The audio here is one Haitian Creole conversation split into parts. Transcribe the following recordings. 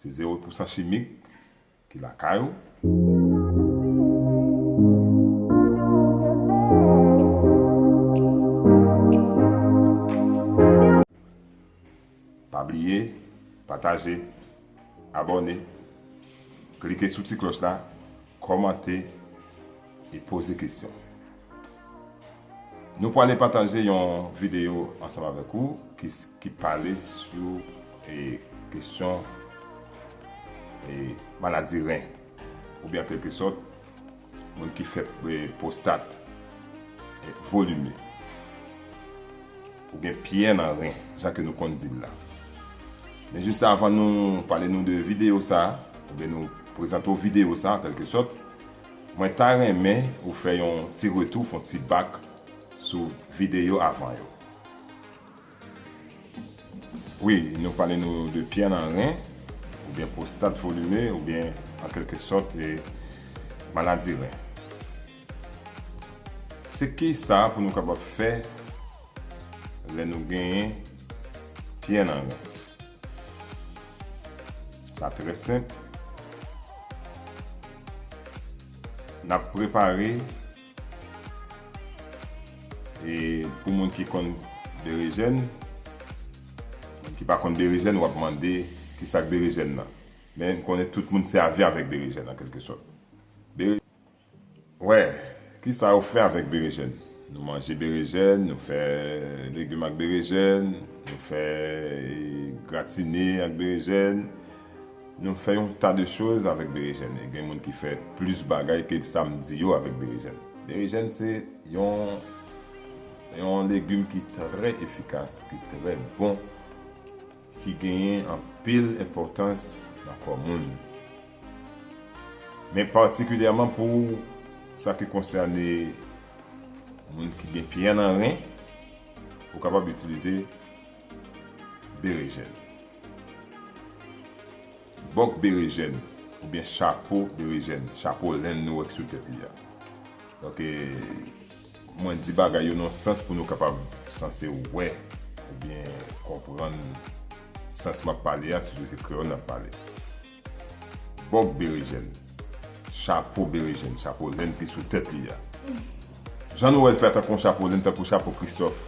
Se zewo pou san chimik ki lakay ou. Pa bliye pataje, abòne, klike sou ti klòch la Kòmante e poze kesyon. Nou pwale pataje yon videyo ansanm avèk ou ki pale sou kesyon maladi ren oubyen an kèlke sòt moun ki fè pwostat volime. Ou gen pyè nan ren, jan ke nou konn di l la. Men jis avan nou pale nou de videyo sa, oubyen nou prezante w videyo sa an kèlke sòt, mwen ta renmen ou fè yon ti retou, fon ti bak sou videyo avan yo. Wi, nou pale nou de pyè nan ren, oubyen pwostat volime, oubyen an kèlke sòt maladi ren. Se kisa pou nou kapab fè lè nou genyen pyè nan ren? Sa trè senp, n ap prepare e pou moun ki konn berejèn, moun ki pa konn berejèn w ap mande kisa k berejèn nan? Men m konnen tout moun sèvi avèk berejèn an kèlke sòt. Wè, kisa yo fè avèk berejèn. Nou manje berejèn, nou fè legim ak berejèn, nou fè gratine ak berejèn, nou fè yon ta de choz avèk berejèn. E gen moun ki fè plis bagay ke sa m di yo avèk berejèn. Berejèn se yon legim ki trè efikas, ki trè bon. ki genyen anpil enpòtans nan kò moun, men patikilyèman pou sa ki konsène moun ki gen pyè nan ren, ou kapab itilize berejèn. Bòk berejèn oubyen chapo berejèn, chapo lenn nou wè ki sou tèt li a. Donk, Mwen di bagay yo nan sans pou nou kapab sanse wè oubyen konprann sans m ap pale a sitou se kreyòl n ap pale. Bòk berejèn, chapo berejèn, chapo len ki sou tèt li a. Jan nou wè l fè a tankou yon chapo len, tankou chapo Kristòf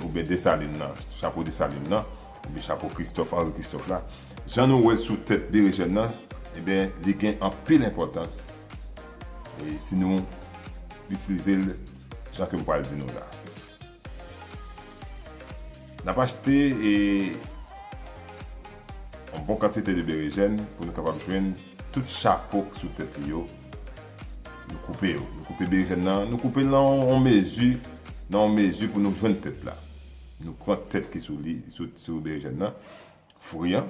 oubyen Desalin nan, chapo Desalin nan, oubyen chapo Kristòf, Anri Kristòf la. Jan nou wè l sou tèt berejèn nan, li gen anpil enpòtans. E si nou itilize l jan ke m pral di nou la. N ap achte e yon bon kantite de berejèn pou nou kapab jwenn tout chapo ki sou tèt li yo. Nou koupe yo. Nou koupe berejèn nan. Nou koupe l nan yon mezi, nan yon mezi pou nou jwenn tèt la. Nou pran tèt ki sou li, sou berejèn nan, fri an.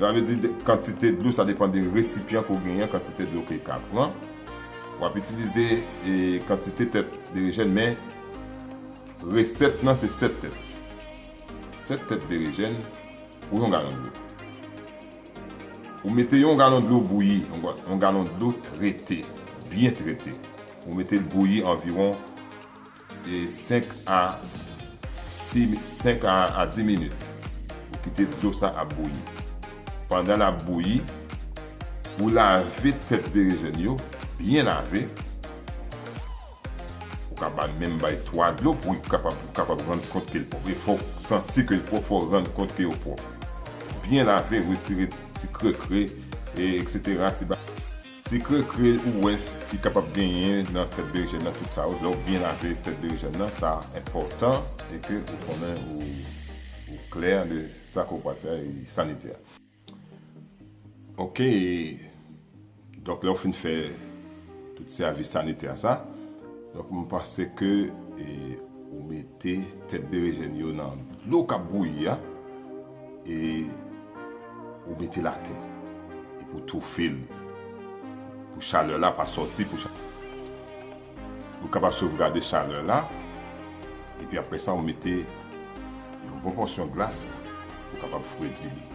Sa vle di kantite dlo, sa depan de resipyan ke w genyen, kantite dlo ke ka pran. W ap itilize kantite tèt berejèn men resèt lan se 7 tèt. 7 tèt berejèn pou yon galon dlo. Ou mete yon galon dlo bouyi, yon galon dlo trete, byen trete. Ou mete l bouyi anviwon 5 a 10 minit ou kite dlo sa ap bouyi pandan lap bouyi ou lave tèt berejèn yo byen lave ou ka bay menm bay 3 dlo pou li kapab rann kont kel pwòp e fòk santi kel pwòp fòk rann kont ke yo pwòp byen lave retire ti krekre etc ti bagay. Se krekre ou wè ki kapab genyen nan tèt berejèn nan tout sa yo lè ou byen lave tèt berejèn nan sa enpòtan e ke ou konnen ou klè de sa ke ou pral fè e sanitè. Ok donk lè ou fin fè tout sèvis sanitè sa donk m panse ke ou mete tèt berejèn yo nan dlo kap bouyi a E ou mete l atè. Epi ou toufe l. Pou chalè la pa soti. Ou kapab sovgade chalè la. Epi apre sa ou mete yon bon pòsyon glas pou kapab fredi li.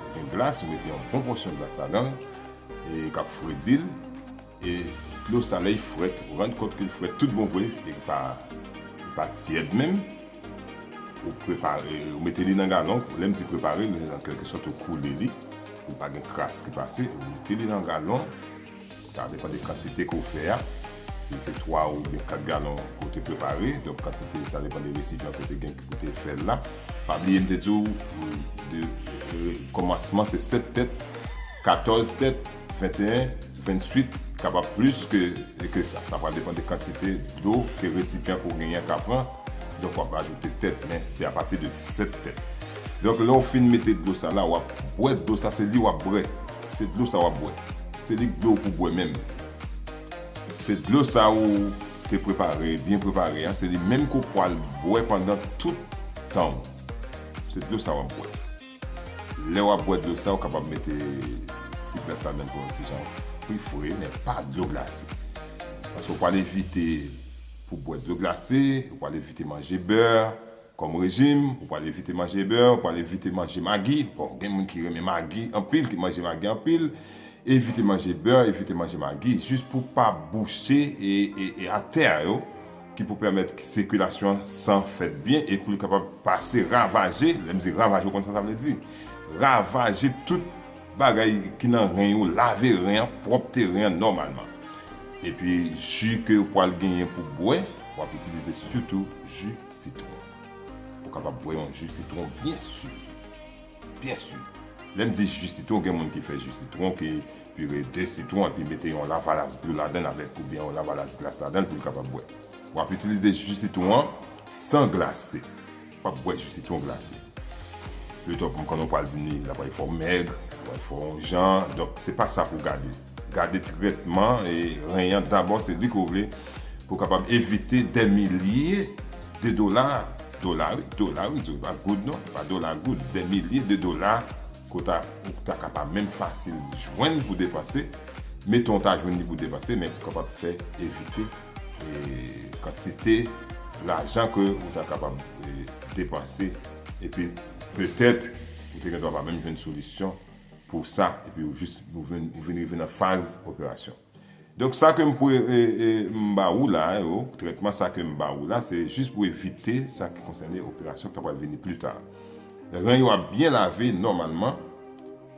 Ou gen glas, ou mete yon bon pòsyon glas ladan l. E kap fredi l. E dlo sa lè li frèt ou rann kont ke li frèt tout bon vre e li pa li pa tyèd menm ou prepare ou mete li nan galon lè m di prepare li an kèlke sòt ou koule li pou pa gen kras ki pase ou mete li nan galon sa depan de kantite ke w fè a si se 3 oubyen 4 galon ke w te prepare donk kantite sa depan de resipyan ke w te gen pou w te fè l la pa bliye m te di w de kòmansman se 7 tèt 14 tèt. 21, 28, kapab plis ke sa. Sa pral depan de kantite dlo ke resipyan ke w genyen an ka pran. Donk w ap ajoute tèt men se apati de 7 tèt. Donk lè w fin mete dlo sa la w ap bwè dlo sa se li w ap bwè. Se dlo sa w ap bwè. Se li dlo w pou bwè menm. Se dlo sa ou te prepare, byen prepare an, se li menm ke w pwal bwè pandan tout tan w. Se dlo sa w ap bwè. Lè wap bwè dlo sa ou kapab mete ti plas ladann pou yon ti jan pri fre men pa dlo glase. Paske ou pwal evite pou bwè dlo glase, ou pwal evite manje bè kòm rejim, ou pwal evite manje bè, ou pwal evite manje magi, bon gen moun ki renmen magi anpil, ki manje magi anpil, evite manje bè, evite manje magi jis pou pa bouche e atè yo. ki pou pèmèt sikilasyon an san fèt byen e pou li kapab pase ravaje, lè m di ravaje ou konn sa sa vle di, ravaje tout bagay ki nan ren yo, lave ren an, pwòpte ren an nòmalman. Epi ji ke ou pwal genyen pou bwè, w ap itilize sitou ji sitwon. Ou kapab bwè yon ji sitwon byen si. Byen su. Lè n di ji sitwon gen moun ki fè ji sitwon ki pire 2 sitwon epi mete yon lavalas dlo ladan l avèk oubyen yon lavalas glas ladan l pou l kapab bwè. W ap itilize ji sitwon an san glase. W ap bwè ji sitwon glase. Pito pou m konnen w pral di ni l ap fè w fòmèg, l ap fè w fè yon jan. Donk se pa sa pou w gade. Gade trètman ren an dabò se li ke w vle pou w kapab evite dè milye de dola, dola wi, dola wi, se pa goud non, se pa dola, goud, dè milye de dola ke w ta ou ta ka pa menm fasil jwenn pou depanse, meton w ta jwenn li pou depanse men pou kapab fè evite kantite lajan ke w ta kapab depanse epi petèt ou te gen dwa pa menm jwenn solisyon pou sa epi ou jis ou vin rive nan faz operasyon donk sa ke m pou m ba ou la yo trètman sa ke m ba ou la se jis pou evite sa ki konsène operasyon k ta pral vini pli ta ren yo ap byen lave nòmalman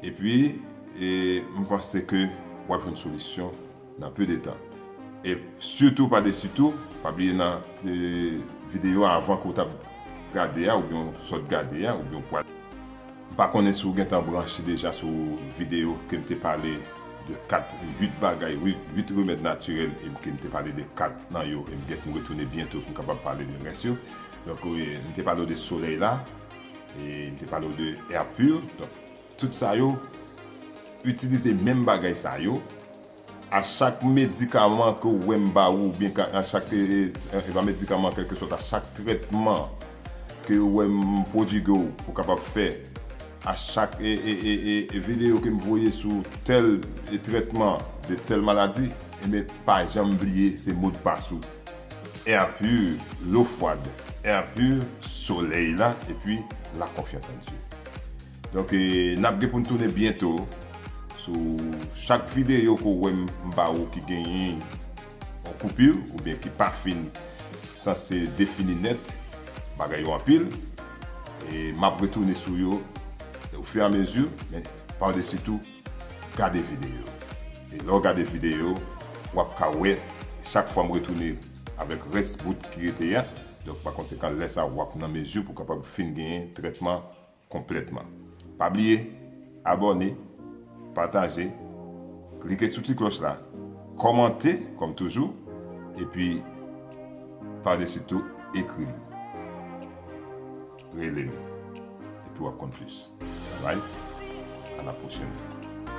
epi m panse ke w ap jwenn solisyon. Nan peu de tan. E sitou pa desi tou, pa bliye nan video avan ke w tap gade a oubyen w sot gade a oubyen w pwal. M pa konnen si w gentan branche deja sou video ke m te pale de 4, 8 bagay, 8 remèd natirèl e ke m te pale de 4 nan yo e m gen pou m retounen byento pou m kapab pale de rès yo. Donk m te pale w de solèy la e m te pale w de air pur. Tout sa yo itilize menm bagay sa yo a chak medikaman ke ou wè m ba ou oubyen ka a chak e pa medikaman kèlkesòt a chak trètman ke ou wè m pwodigue w pou kapab fè a chak e e e e e videyo ke m voye sou tèl e trètman de tèl maladi enben pa janm bliye se modpas ou Air pur l'eau froide Air pur solèy la epi la confiance en Dieu. Donk nap gen poun tounen byento sou chak videyo ke w wè m ba ou ki genyen yon koupur oubyen ki pa fin sanse defini nèt, bagay yo anpil e map retounen sou yo au fur et à mesure men par dessus tout gade videyo e lè w gade videyo wap ka wè chak fwa m retounen avèk rès bout ki rete a donk pa konsekan lè sa wap nan mezi pou kapab fin genyen trètman konplètman. Pa bliye abòne, pataje, klike sou ti klòch la, kòmante kòm toujou epi pa desi tou ekri m, rele m epi w ap konn plis. Bye bye, a la pwochèn.